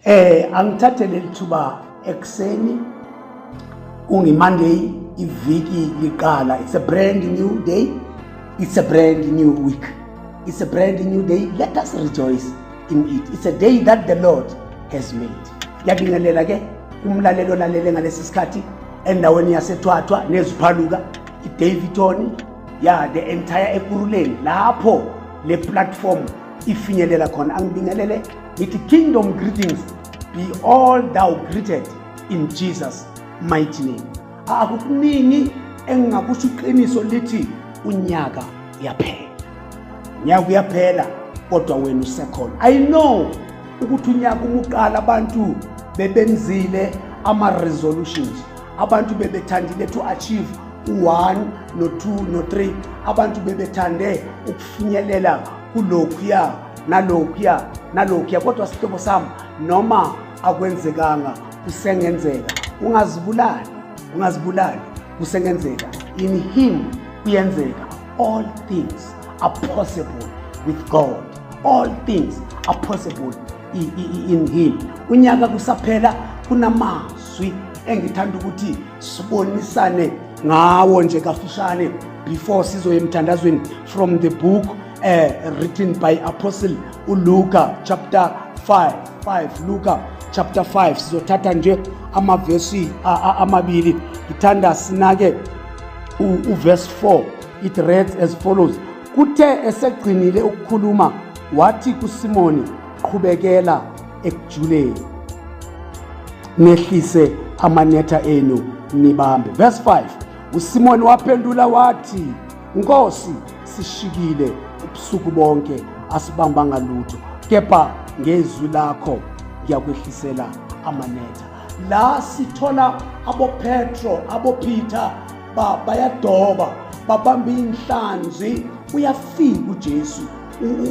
Eh angithathe leli thuba ekuseni kungimonday iviki liqala it's a brand new day it's a brand new week it's a brand new day let us rejoice in it it's a day that the lord has made ngiyabingelela ke umlaleli olalele ngalesi sikhathi endaweni yasethwathwa neziphaluka idaviton ya the entire ekuruleni lapho le platform ifinyelela khona angibingelele ngithi kingdom greetings be all thou greeted in jesus mighty name akukuningi engingakusho iqiniso lithi unyaka uyaphela unyaka uyaphela kodwa wena usekhona i know ukuthi unyaka umuqala abantu bebenzile ama-resolutions abantu bebethandile to achieve u-one no-two no-three abantu bebethande ukufinyelela kulokhuya nalokhuya nalokhuya kodwa sihlobo sami noma akwenzekanga kusengenzeka ungazibulali ungazibulali kusengenzeka in him kuyenzeka all things are possible with god all things are possible in him unyaka kusaphela kunamazwi engithanda ukuthi sibonisane ngawo nje kafishane before sizoye emthandazweni from the book uh, written by apostle uluka chapter 5 5 luka chapter 5 sizothatha nje amavesi amabili ngithanda sinake uverse 4 it reads as follows kuthe esegcinile ukukhuluma wathi kusimoni qhubekela ekujuleni nehlise amanetha enu nibambe verse 5 usimoni waphendula wathi Nkosi sishikile ubusuku bonke asibambanga lutho kepha ngezwi lakho ngiyakwehlisela amanetha la sithola abopetro abopeter ba, bayadoba babamba inhlanzi uyafika ujesu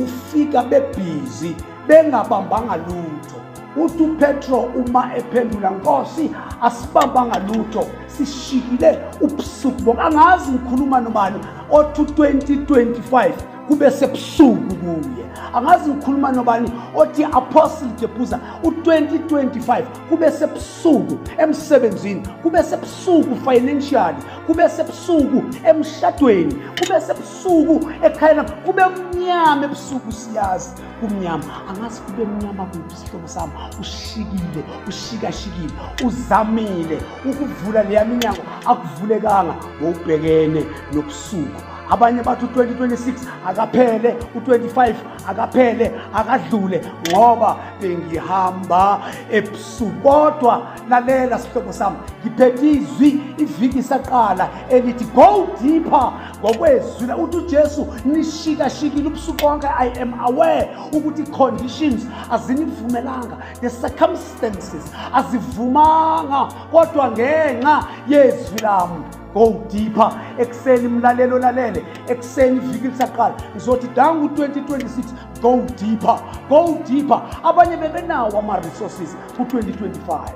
ufika bebhizi bengabambanga lutho uthi upetro uma ephendula nkosi asibambanga lutho sishikile ubusuku bonke angazi ngikhuluma nobani othi 2025 kube sebusuku kuye angazi ngikhuluma nobani othi apostle jebuza u-2025 kube sebusuku emsebenzini kube sebusuku financially kube sebusuku emshadweni kube sebusuku ekhayena kube mnyama ebusuku siyazi kumnyama angazi kube mnyama kuphi isihlobo sami ushikile ushikashikile uzamile ukuvula leya minyango akuvulekanga ngokubhekene nobusuku abanye bathi u-2026 akaphele u-25 akaphele akadlule ngoba bengihamba ebusuku kodwa lalela sihlobo sami ngiphethe izwi iviki isaqala elithi go deeper ngokwezwi la uthi ujesu nishikashikile ubusuku bonke i am aware ukuthi i-conditions azinivumelanga the circumstances azivumanga kodwa ngenxa yezwi lami go deeper ekuseni mlaleli olalele ekuseni iviki lisaqala ngizothi dangu 2026 go deeper go deeper abanye bebenawo ama-resources ku-2025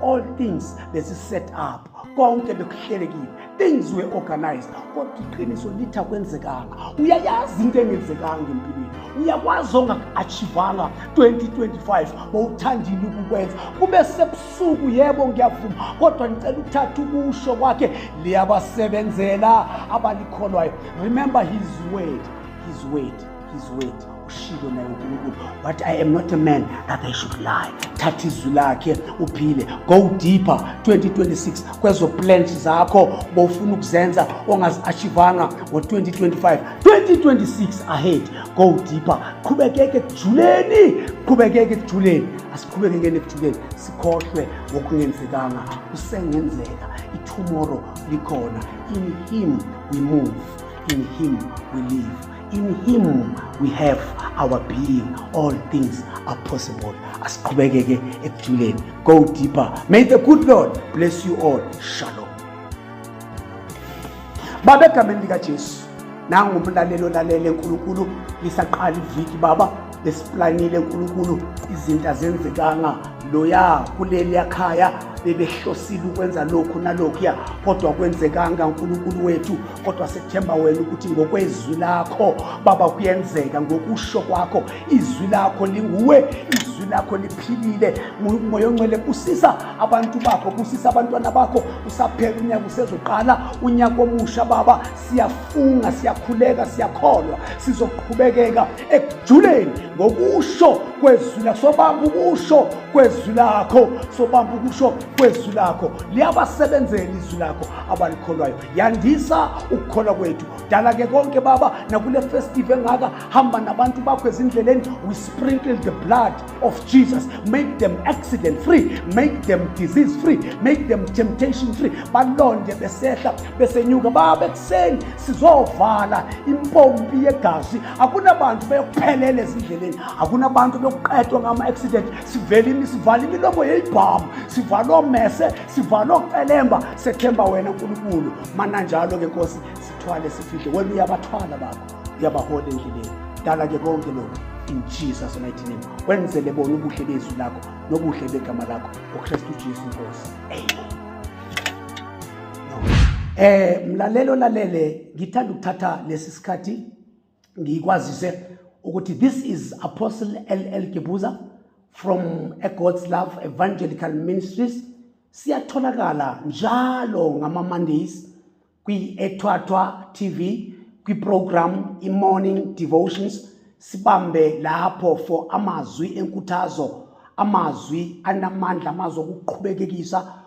all things bezi-set up konke bekuhlelekile things were organized kodwa iqiniso lithi akwenzekanga uyayazi into engenzekanga empilweni uyakwazi ongaku-achivanga 2025 bowuthandile ukukwenza kube sebusuku yebo ngiyavuma kodwa ngicela ukuthatha ukusho kwakhe liyabasebenzela abalikholwayo remember his word his word his word ushilo naye unkulunkulu what i am not a man that i should lie thatha izwi lakhe uphile go deeper 2026 kwezo plans zakho bowufuna ukuzenza ongazi-achivanga ngo-2025 2026 ahead go deeper qhubekeke ekujuleni qhubekeke ekujuleni asiqhubekekeni ekujuleni sikhohlwe ngokungenzekanga kusengenzeka itomorrow likhona in him we move in him we live In him we have our being all things are possible asiqhubekeke ekujuleni go deeper may the good lord bless you all shalom baba egameni likajesu nangu umlalelo lalele nkulunkulu lisaqala iviki baba besiplanile nkulunkulu izinto azenzekanga loya kuleliya khaya bebehlosile ukwenza lokhu nalokhuya kodwa kwenzekanga nkulunkulu wethu kodwa sethemba wena ukuthi ngokwezwi lakho baba kuyenzeka ngokusho kwakho izwi lakho linguwe izwi lakho liphilile moya oncele busisa abantu bakho busisa abantwana bakho usaphela unyaka usezoqala unyaka omusha baba siyafunga siyakhuleka siyakholwa sizoqhubekeka ekujuleni ngokusho kwezwi lakho sobamba ukusho kwezwi lakho sobamba ukusho kwezwi lakho liyabasebenzela izwi lakho abalikholwayo yandisa ukukholwa kwethu dala ke konke baba nakule festive engaka hamba nabantu bakho ezindleleni we sprinkle the blood of jesus make them accident free make them disease free make them temptation free balonde besehla besenyuka baba ekuseni sizovala impompi yegazi akunabantu beyokuphelela ezindleleni akunabantu beyokuqedwa ngama-accident sivele sivala imilomo yeyibhamu sivala omese sivale okucelemba sethemba wena nkulunkulu mananjalo-ke nkosi sithwale sifihle wena uyabathwala bakho uyabahola endleleni dala-ke konke lokhu in jesus mighty name wenzele bona ubuhle bezwi lakho nobuhle begama lakho ngokristu jesu nkosi amen Eh mlalelo lalele ngithanda ukuthatha lesi sikhathi ngikwazise ukuthi this is apostle ll gibuza from a god's love evangelical ministries siyatholakala njalo ngama-mondays kwi-ethwathwa tv kwiprogram i-morning devotions sibambe lapho for amazwi enkuthazo amazwi anamandla amazwi okuqhubekekisa